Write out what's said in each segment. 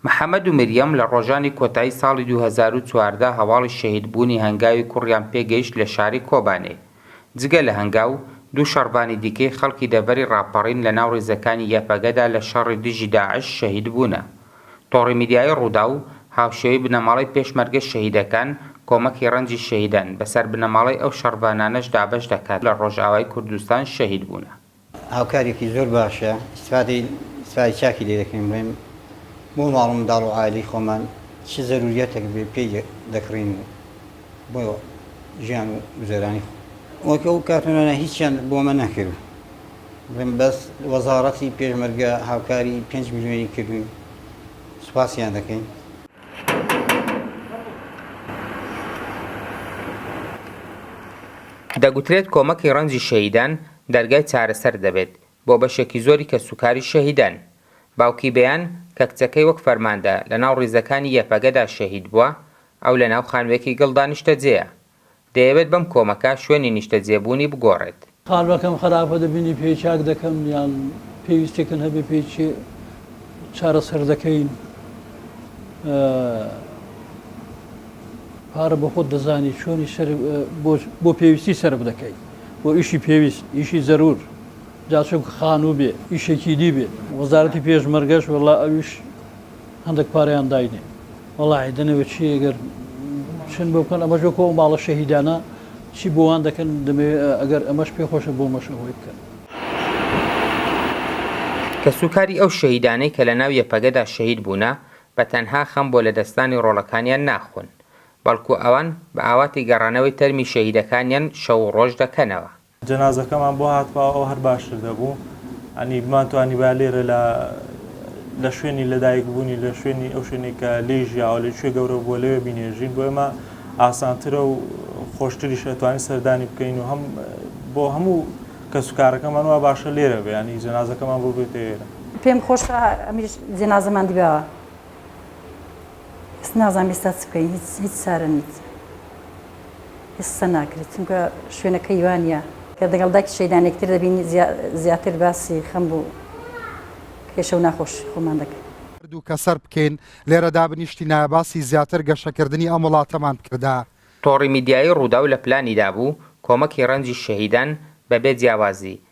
محەمەد و مریەم لە ڕۆژانی کۆتایی ساڵی دوو هەزار و چواردە هەواڵی شەهیدبوونی هەنگاوی کوڕیان پێگەیشت لە شاری کۆبانێ. جگە لە هەنگاو، دوو شەڕڤانی دیکەی خەڵکی دەڤەری ڕاپەڕین لەناو ڕیزەکانی یەپەگەدا لە شەڕی دژی داعش شەهیدبوونە. تۆڕی میدیایی ڕووداو، هاوشێوەی بنەماڵەی پێشمەرگە شەهیدەکان، کۆمەکی ڕەنجی شەهیدان بەسەر بنەماڵەی ئەو شەڕڤانانەش دابەش دەکات لە ڕۆژئاوای کوردستان شەهیدبوونە. هاوکارێکی زۆر باشە ئیستفادەی ئیستفادەی چاکی لێ دەکەین بڵێم بۆ ماڵ و منداڵ و عایلەی خۆمان چ زەرووریەتێک بێ پێی دەکڕین و بۆ ژیان و گوزەرانی خۆ وەک ئەو کارتۆنانە هیچیان بۆ ئەمە نەکرد بڵێم بەس وەزاڕەتی پێشمەرگە هاوکاری پێنج ملیۆنی کردوین سوپاسیان دەکەین دەگوترێت کۆمەکی ڕەنجی شەهیدان دەرگای چارەسەر دەبێت بۆ بەشێکی زۆری کەسوکاری شەهیدان. باوکی بەیان کە کچەکەی وەک فەرماندە لەناو ڕیزەکانی یەپەگەدا شەهید بووە، ئەو لەناو خانووێکی گڵدا نیشتەجێیە. دەیەوێت بەم کۆمەکە شوێنی نیشتەجێبوونی بگۆڕێت. قالبەکەم خراپە دەبینی پێی چاک دەکەم یان پێویستێکن هەبێ پێی چێ چارەسەر دەکەین پارە بۆ خۆت دەزانی چۆنی سەر بۆ پێویستی سەرف دەکەی. بۆ ئیشی پێویست، ئیشی زەروور، جا چونکە خانوو بێ، ئیشێکی دی بێ. وەزارەتی پێشمەرگەش وەڵا ئەویش هەندەک پارەیان داینێ. وەڵا ئەی دەنەوێ چی ئەگەر چن بۆ بکەن، ئەمەش وەکۆ ئەو ماڵە شەهیدانە چی بۆ وان دەکەن، دەمەوێ ئەگەر ئەمەش پێ خۆشە بۆمەش ئەوەی بکەن. کەسوکاری ئەو شەهیدانەی کە لە ناو یەپەگەدا شەهید بوونە، بە تەنها خەم بۆ لەدەستدانی ڕۆڵەکانیان ناخۆن. بەڵکو ئەوان بە ئاواتی گەڕانەوەی تەرمی شەهیدەکانیان شەو و ڕۆژ دەکەنەوە. جەنازەکەمان بۆ هاتباوە ئەو هەر باشتر دەبوو یانی بمانتوانیبا لێرە لە لە شوێنی لەدایک بوونی لە شوێنی ئەو شوێنی کە لێی ژیاوە لە کوێ گەورە بووە لەوێ بینێژین بۆ ئێمە ئاسانترە و خۆشتریش ئەتوانین سەردانی بکەین و هەم بۆ هەموو کەسوکارەکەمان وا باشە لێرە بێ ینی جەنازەکەمان بۆ بێتە ئێرە. پێم خۆشە ئەمیش جەنازەمان دیباوە. ئێستا نازانم ئێستا چ بکەین هیچ هیچ چارە نیت ئێستا ناکرێت چونکە شوێنەکە یوانە کە دەگەڵ داکی شەیدانێکتر دەبین زیاتر باسی خەم بوو کێشە و ناخۆش خۆمان دەکەین دوو کە سەر بکەین لێرە دابنیشتی نایە باسی زیاتر گەشەکردنی ئەم وڵاتەمان بکردا. تۆڕی میدیایی رووداو لە پلانیدا بوو کۆمەکی رەنجی شەهیدان بەبێ جیاوازی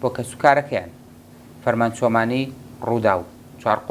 بۆ کەسوکارەکەیان، فەرمانچۆمانی، رووداو، چوارقوڕ.